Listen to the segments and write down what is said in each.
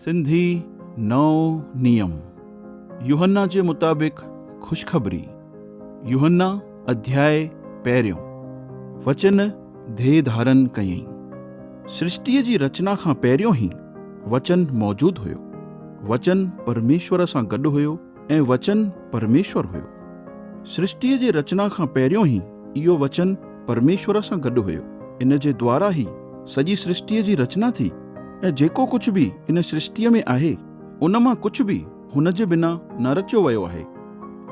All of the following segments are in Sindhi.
سنڌي نئون نيم، يوحنا جي مطابق خوشخبري، يوحنا اڌياء پهريون، وچن ڌيء ڌارن ڪيئين. سرشٽيء جي رچنا کان پهريون ئي وچن موجود هيو. وچن پرميشور سان گڏ هيو. ۽ وچن پرميشور هيو. سرشٽيء جي رچنا کان پهريون ئي اهو وچن پرميشور سان گڏ هيو. ان جي دوارا ئي سڄي سرشٽيء جي رچنا ٿي ۽ جيڪو ڪجهه به ان سرشٽيء ۾ آهي، ان مان ڪجهه به هن جي بنا نه رچيو ويو آهي.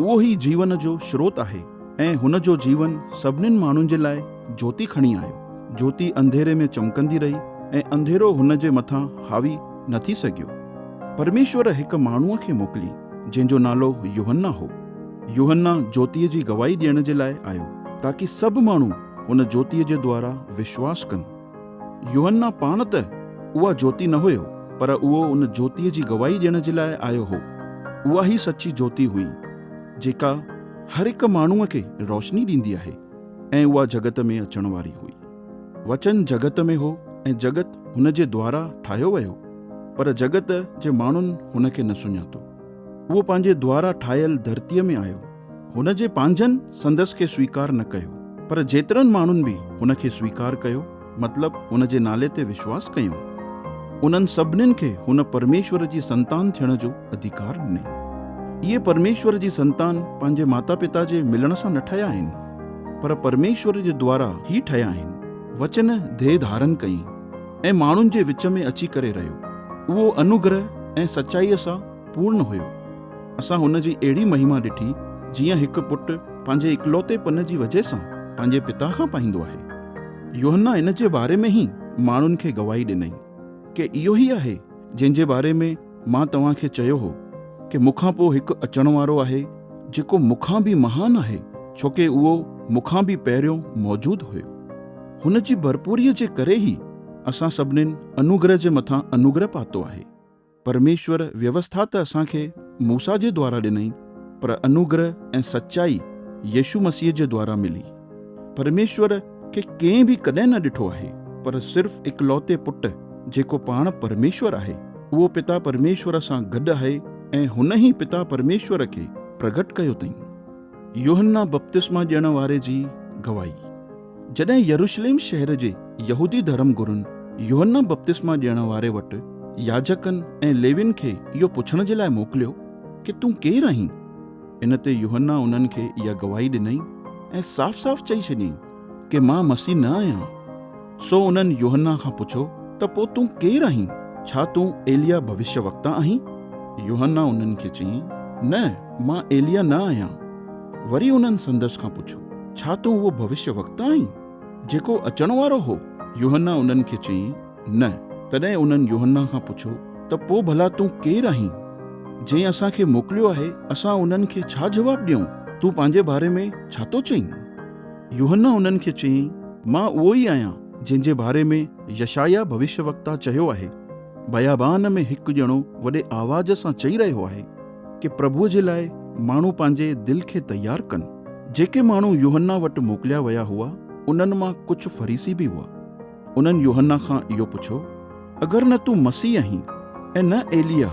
اهو ئي جيون جو شروت آهي ۽ هن جو جيون سڀنين ماڻهن جي لاء جوتي کڻي آيو. جوتي انڌيري ۾ چمڪندي رهي ۽ انڌيرو هن جي مٿان حاوي. نه ٿي سگهيو. پرميشور هڪ ماڻهوء کي موڪلي، جنهن جو نالو يوحنا هو. يوحنا جوتيء جي گواهي ڏيڻ جي لاء آيو، تاڪي سڀ ماڻهو ان جوتيء جي دوارا وشواس ڪن. يوحنا پاڻ ته اها جوتي نه هيو، پر اهو ان جوتيء جي گواهي ڏيڻ جي لاء آيو هو. اها ئي سچي جوتي هئي، جيڪا هر هڪ ماڻهوء کي روشني ڏيندي آهي ۽ اها جڳت ۾ اچڻ واري هئي. وچن جڳت ۾ هو ۽ جڳت هن جي دوارا ٺاهيو ويو، پر جڳت جي ماڻهن هن کي نه سڃاتو. اهو پنهنجي دوارا ٺاهيل ڌرتيء ۾ آيو. هن جي پنهنجن سندس کي سويڪار نه ڪيو، پر جيترن ماڻهن به هن کي سويڪار ڪيو، مطلب هن جي نالي تي وشواس ڪيون، انهن سڀنين کي هن پرميشور جي سنتان ٿيڻ جو اڌيڪار ڏني. اهي پرميشور جي سنتان پنهنجي ماتا پتا جي ملڻ سان نه ٺهيا آهن. پر پرميشور جي دوارا ئي ٺهيا آهن. وچن ديهه ڌارن ڪئي ۽ ماڻهن جي وچ ۾ اچي ڪري رهيو. اهو انوگره ۽ سچائيء سان پورن هيو. اسان هن جي اهڙي مهما ڏٺي جيئن هڪ پٽ پنهنجي اڪلوتي پن جي وجهه سان پنهنجي پتا کان پائيندو آهي. يوحنا ان جي باري ۾ ئي ماڻهن کي گواهي ڏنائين، ڪي اهو ئي آهي جنهن جي باري ۾. مان توهان کي چيو هو ڪي مون کان پوء هڪ اچڻ وارو آهي جيڪو مون کان به مهان آهي ڇو ڪي اهو مون کان به پهريون موجود هيو. هن جي ڀرپوريء جي ڪري ئي اسان سڀنين انوگره جي مٿان انوگره پاتو آهي. پرميشور ويوسٿا ته اسان کي موسيٰ جي دوارا ڏنائين پر انوگره ۽ سچائي يسوع مسيح جي دوارا ملي. پرميشور کي ڪنهن به ڪڏهن نه ڏٺو آهي، پر صرف اڪلوتي پٽ جيڪو پاڻ پرميشور آهي، اهو پتا پرميشور سان گڏ آهي ۽ هن ئي پتا پرميشور کي پرگهٽ ڪيو تئين. يوحنا بپتسما ڏيڻ واري جي گواهي. جڏهن يروشليم شهر جي يهودي ڌرم گرن يوحنا بپتسما ڏيڻ واري وٽ ياجڪن ۽ ليوين کي اهو پڇڻ جي لاء موڪليو ڪي تون ڪير آهين؟ ان تي يوحنا انهن کي اها گواهي ڏنائين ۽ صاف صاف چئي ڇڏيائين ڪي مان مسيح نه آهيان. سو انهن يوحنا کان پڇو ته پوء تون ڪير آهين؟ ڇا تون ايليا ڀوشيه وڪتا آهين؟ يوحنا انهن کي چيائين، نه مان ايليا نه آهيان. وري انهن سندس کان پڇو، ڇا تون اهو ڀوشيه وڪتا آهين، جيڪو اچڻ وارو هو؟ يوحنا انهن کي چيائين، نه. تڏهن انهن يوحنا کان پڇيو، ته پوء ڀلا تون ڪير آهين؟ جنهن اسان کي موڪليو آهي، اسان انهن کي ڇا جواب ڏيون؟ تون پنهنجي باري ۾ ڇا ٿو چئين؟ يوحنا انهن کي چيائين، مان اهو ئي آهيان، جنهن جي باري ۾ يشعيا ڀوشيوڪتا چيو آهي، بيابان ۾ هڪ ڄڻو وڏي آواز سان چئي رهيو آهي، ڪي پرڀوء جي لاء ماڻهو پنهنجي دل کي تيار ڪن. جيڪي ماڻهو يوحنا وٽ موڪليا ويا هئا، انهن مان ڪجهه فريسي به هئا. انهن يوحنا کان اهو پڇيو، اگر نه تون مسيح آهين ۽ نه ايلياه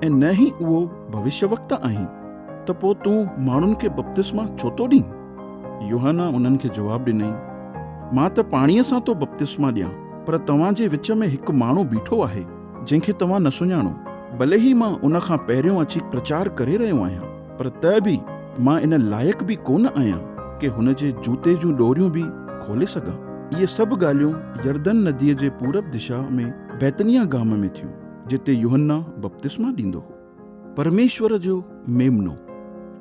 ۽ نه ئي اهو ڀوشيوڪتا آهين، ته پوء تون ماڻهن کي بپتسما ڇو ٿو ڏين؟ يوحنا انهن کي جواب ڏنائين، مان ته پاڻيء سان ٿو بپتسما ڏيان، پر توهان جي وچ ۾ هڪ ماڻهو بيٺو آهي، جنهن کي توهان نه سڃاڻو، ڀلي هي مان ان کان پهريون اچي پرچار ڪري رهيو آهيان. پر ته به مان ان لائق به ڪونه آهيان ڪي هن جي جوتي جون ڏوريون به کولي سگهان. اهي سڀ ڳالهيون يردن نديء جي پورب دشا ۾ بيتنيا گام ۾ ٿيون، جتي يوحنا بپتسما ڏيندو هو. پرميشور جو ميمنو.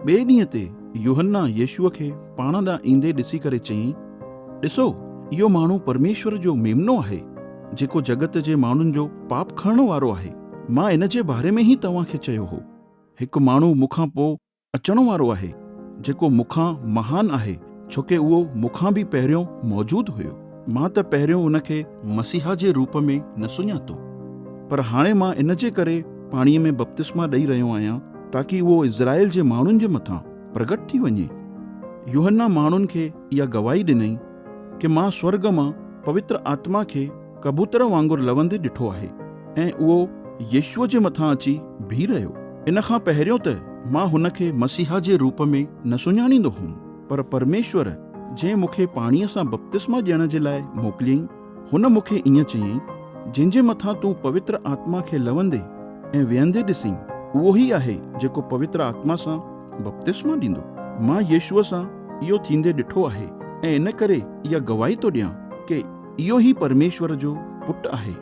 ٻئي ڏينهن تي يوحنا يسوع کي پاڻ ڏانهن ايندي ڏسي ڪري چيائين، ڏسو، اهو ماڻهو پرميشور جو ميمنو آهي، جيڪو جڳت جي ماڻهن جو پاپ کڻڻ وارو آهي. مان ان جي باري ۾ ئي توهان کي چيو هو. هڪ ماڻهو مون کان پوء اچڻ وارو آهي، جيڪو مون کان مهان آهي، ڇوڪه اهو مون کان به پهريون موجود هيو. مان ته پهريون ان کي مسيحا جي روپ ۾ نه سڃاتو، پر هاڻي مان ان جي ڪري پاڻيء ۾ بپتسما ڏئي رهيو آهيان، تاڪي اهو اسرائيل جي ماڻهن جي مٿان پرگٽ ٿي وڃي. يوحنا ماڻهن کي اها گواهي ڏنائين ڪه مان سورڳ مان پوتر آتما کي ڪبوتر وانگر لوندي ڏٺو آهي ۽ اهو يسوع جي مٿان اچي بيهي رهيو. ان کان پهريون ته مان هن کي مسيحا جي روپ ۾ نه سڃاڻيندو هوم، پر پرميشور جنهن مون کي پاڻيء سان بپتسما ڏيڻ جي لاء موڪليائين، هن مون کي ائين چيائين، جنهن جي مٿان تون پوتر آتما کي لوندي ۽ ويهندي ڏسين، اهو ئي آهي جيڪو پوتر آتما سان بپتسما ڏيندو. مان يسوع سان اهو ٿيندي ڏٺو آهي ۽ ان ڪري اها گواهي ٿو ڏيان ڪي. اهو ئي پرميشور جو پٽ آهي.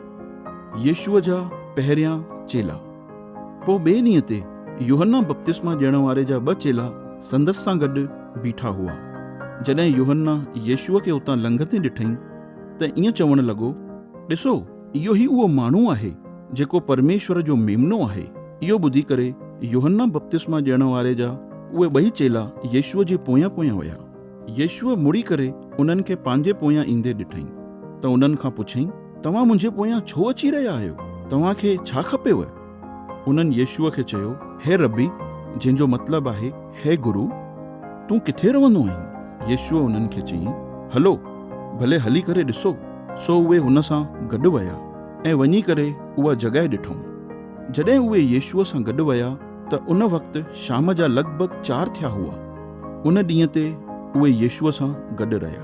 يسوع جا پهريان چيلا. پوء ٻئي ڏينهن تي يوحنا بپتسما ڏيڻ واري جا ٻه چيلا سندس سان گڏ بيٺا هئا. جڏهن يوحنا يسوع کي اتان لنگهندي ڏٺئي ته ائين چوڻ لڳو، ڏسو، اهو ئي اهو ماڻهو آهي، جيڪو پرميشور جو ميمنو آهي. اهو ٻڌي ڪري يوحنا بپتسما ڏيڻ واري جا اهي ٻئي چيلا يسوع جي پويان پويان ويا. يسوع مڙي ڪري انهن کي پنهنجي پويان ايندي ڏٺائين، ته انهن کان پڇيائين، توهان منهنجي پويان ڇو اچي رهيا آهيو؟ توهان کي ڇا کپيو؟ انهن يسوع کي چيو، هي ربي، جنهن جو مطلب آهي، هي گرو، تون ڪٿي رهندو آهين؟ يسوع انهن کي چيائين، هلو، ڀلي هلي ڪري ڏسو. سو اهي هن سان گڏ ويا ۽ وڃي ڪري اها جڳهه ڏٺائون. جڏهن اهي يسوع سان گڏ ويا، ته ان وقت شام جا لڳ ڀڳ چار ٿيا هئا. ان ڏينهن تي اهي يسوع سان گڏ رهيا.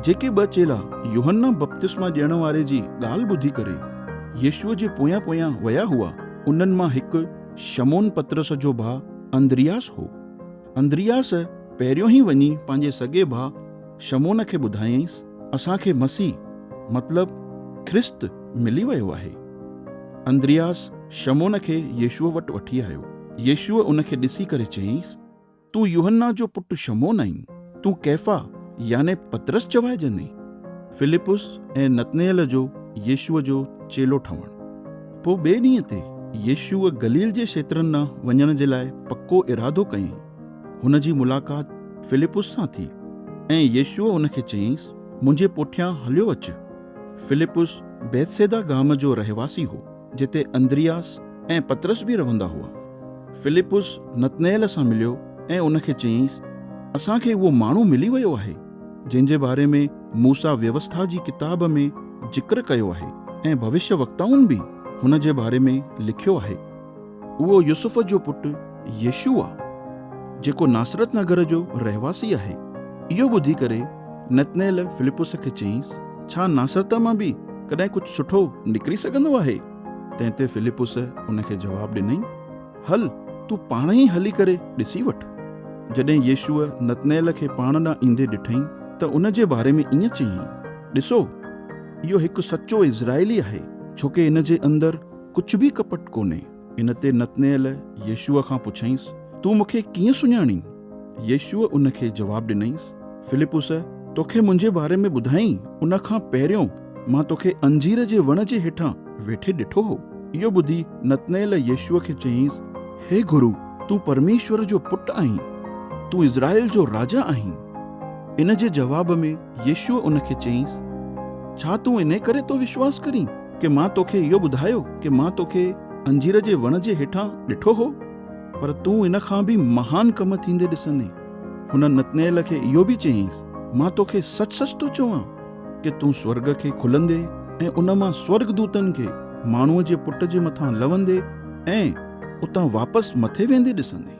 جيڪي ٻه چيلا يوحنا بپتسما ڏيڻ واري جي ڳالهه ٻڌي ڪري يسوع جي پويان پويان ويا هئا، انهن مان هڪ شمعون پطرس جو ڀاء اندرياس هو. اندرياس پهريون ئي وڃي پنهنجي سڳي ڀاء شمعون کي ٻڌايائينس، اسان کي مسيح، مطلب ڪرست، ملي ويو آهي. اندرياس شمعون کي يسوع وٽ وٺي آيو. يسوع ان کي ڏسي ڪري چيائينس. تون يوحنا جو پٽ شمعون آهين، تون ڪيفا يعني پطرس چوائجندين. فلپس ۽ نتنئيل جو يسوع جو چيلو ٺهڻ. پوء ٻئي ڏينهن تي يسوع گليل جي کيترن ڏانهن وڃڻ جي لاء پڪو ارادو ڪيائين. هن جي ملاقات فلپس سان ٿي ۽ يسوع هن کي چيائينس، منهنجي پوٺيان هليو اچ. فلپس بيتسيدا گام جو رهواسي هو. جتي اندرياس ۽ پطرس به رهندا هئا. فلپس نتنئيل سان مليو ۽ ان کي چيائينس، اسان کي اهو ماڻهو ملي ويو آهي، جنهن جي باري ۾ موسيٰ ويوسٿا جي ڪتاب ۾ ذڪر ڪيو آهي ۽ ڀوشيوڪتائن به هن جي باري ۾ لکيو آهي. اهو يوسف جو پٽ يشوع آ، جيڪو ناصرت نگر جو رهواسي آهي. اهو ٻڌي ڪري نتنئيل فلپس کي چيائينس، ڇا ناصرت مان به ڪڏهن ڪجهه سٺو نڪري سگهندو آهي؟ تنهن تي فلپس ان کي جواب ڏنائين، هل، تون پاڻ ئي هلي ڪري ڏسي وٺ. جڏهن يشوع نتنئيل کي پاڻ ڏانهن ايندي ڏٺائين ته ان جي باري ۾ ائين چيائين، ڏسو! اهو هڪ سچو اسرائيلي آهي، ڇوڪه ان جي اندر ڪجهه به ڪپٽ ڪونهي. ان تي نتنئيل يسوع کان پڇيائينس، تون مون کي ڪيئن سڃاڻين؟ يسوع ان کي جواب ڏنائينس، فلپس، توکي منهنجي باري ۾ ٻڌائين، ان کان پهريون مان توکي انجير جي وڻ جي هيٺان ويٺي ڏٺو هو. اهو ٻڌي نتنئيل يسوع کي چيائينس، هي گرو، تون پرميشور جو پٽ آهين، تون اسرائيل جو راجا آهين. ان جي جواب ۾ يسوع ان کي چيائينس، ڇا تون انهي ڪري ٿو وشواس ڪرين؟ ڪي مان توکي اهو ٻڌايو ڪي مان توکي انجير جي وڻ جي هيٺان ڏٺو هو پر تون ان کان به مهان ڪم ٿيندي ڏسندين. هن نتنئيل کي اهو به چيائينس، مان توکي سچ سچ ٿو چوان ڪي تون سورڳ کي کلندي ۽ ان مان سورڳ دوتن کي ماڻهوء جي پٽ جي مٿان لوندي ۽ اتان واپس مٿي ويندي ڏسندين.